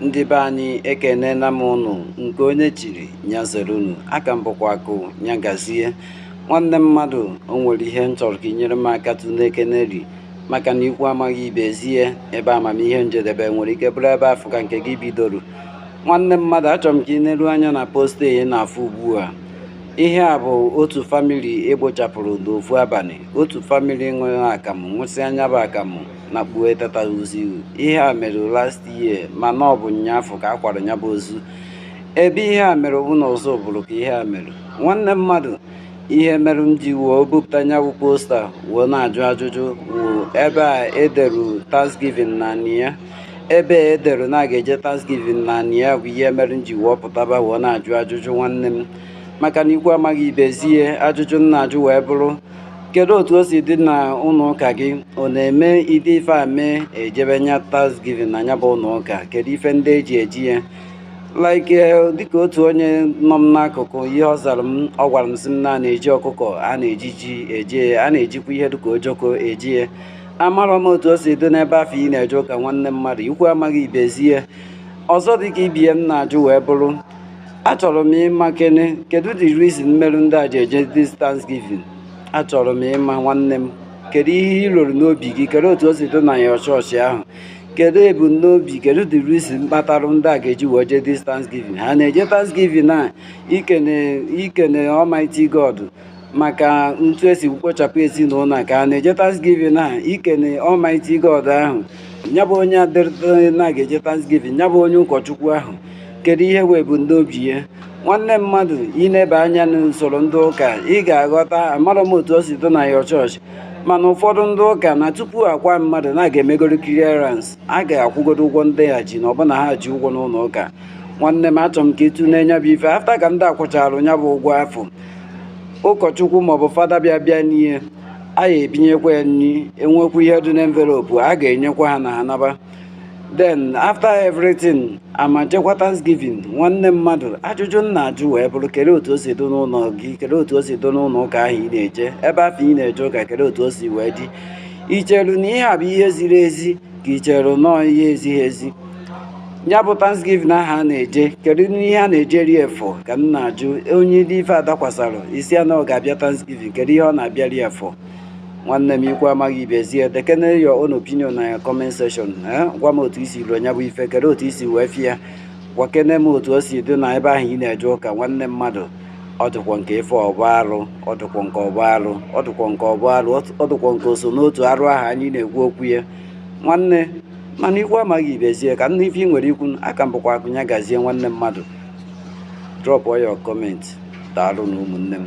ndị be anyị ekenena m ụnụ nke onye chiri nya zere unu aka m bụkwa akụ nya gazie nwanne mmadụ o nwere ihe m chọrọ ka ị nyere m aka tụnekenerị maka na ikwu amaghị ibe ezie ebe amamihe m jedebe nwere ike bụrụ ebe afụ ka nke gị bidoro nwanne mmadụ achọrọ m ka ị neru anya na post ị na-afụ ugbu a ihe a bụ otu famili e kpochapụrụ n'ofu abalị otu famili ṅụrụ akamụ ṅụsịa nya bụ akamụ na kpuo etata ozu ihe a mere last year mana ọ bụ nyaafụ ka a kwara nya bụ ozu ebe ihe a mere bụ na Ọzụbụlụ ka ihe a mere nwanne mmadụ ihe mere m ji wee bupụta nya bụ posta wee na-ajụ ajụjụ wụ ebe e deru thanksgiving na ya ebe e dere na a ga-eje thanksgiving na anị ya bụ ihe mere m ji wee pụtaba wee na-ajụ ajụjụ nwanne m maka na ikwu amaghị ibe ezie ajụjụ m na-ajụ wee bụrụ kedu otu o si dị na ụlọ ụka gị ọ na-eme ụdị ife a mee e jebe nye thanksgiving na nya bụ ụlọ ụka kedu ife ndị e ji eje ya like eh, dịka otu onye nọ m n'akụkụ ihe ọ zara m ọ gwara m sị m na a na-eji ọkụkọ a na-eji ji eje ya na-ejikwa ihe dịka ojoko eje ya amarọ m otu o si dị n'ebe afụ ị na-eje ụka nwanne mmadụ ikwu amaghị ibe ezie ọzọ dịka ibe ya m na-ajụ wee bụrụ achọrọ m ịmakene kedu the reason meru ndị a ji eje this Thanksgiving achọrọ m ịma nwanne m kedu ihe i roru n'obi gị kedu otu o si dị na your chọọchị ahụ kedu ebumnobi kedu the reason kpatara ndị a ga-eji wee jee this Thanksgiving ha na-eje Thanksgiving a ikene Almighty God maka otu e si kpochapụ ezinụlọ a ka ha na-eje Thanksgiving a ikene Almighty God ahụ ya bụ onye adịrịta na a ga-eje Thanksgiving ya bụ onye ụkọchukwu ahụ kedu ihe wee bu n'obi ya nwanne mmadụ i neba anya n'usoro ndị ụka ị ga-aghọta amarọ m otu o si dị na your chọọchị mana ụfọdụ ndị ụka na tupu a kwaa mmadụ na a ga-emegodo clearance a ga-akwụgodo ụgwọ ndị ha ji ma ọ bụ na ha ji ụgwọ n'ụlọ ụka nwanne m achọrọ m ka ị tụnee nya bụ ife after ka ndị a kwụchara ya bụ ụgwọ afụ ụkọchukwu maọbụ fada bịa bịa n'ihe a ya ebunyekwa ya nri e nwekwa ihe dị n'envelope a ga-enyekwa ha na ha naba then after everything a ma jekwa thanksgiving nwanne mmadụ ajụjụ m na-ajụ wee bụrụ kedu otu o si dị n'ụlọ gị kedu otu o si dị n'ụlọ ụka ahụ ị na-eje ebe afụ ị na-eje ụka kedu otu o si wee dị i cheru na ihe a bụ ihe ziri ezi ka i cheru na ọọ ihe ezighị ezi ya bụ thanksgiving aha a na-eje kedu ihe a na-eje ri efọ ka m na-ajụ onye dị ife adakwasara isi a na ọ ga-abịa thanksgiving kedu ihe ọ na-abịa ri efọ nwanne m ikwu amaghị ibezie dekene your own opinion na comment section eh, gwa m otu isi ruo nya bụ ife kedu otu isi wee fie gwakene m otu o si dị na ebe ahụ ị na-eje ụka nwanne mmadụ ọdụkwọ nke ife ọbụ arụ ọdụkwọ nke ọbụ arụ ọdụkwọ nke ọbụ arụ ọdụkwọ nke oso n'otu arụ ahụ anyị na-ekwu okwu ya nwanne mana ikwu amaghị ibe ezie ka m nụ ife i nwere ikwu aka m bụkwa akụnya gazie nwanne mmadụ drop your comment daalụ nụ ụmụnne m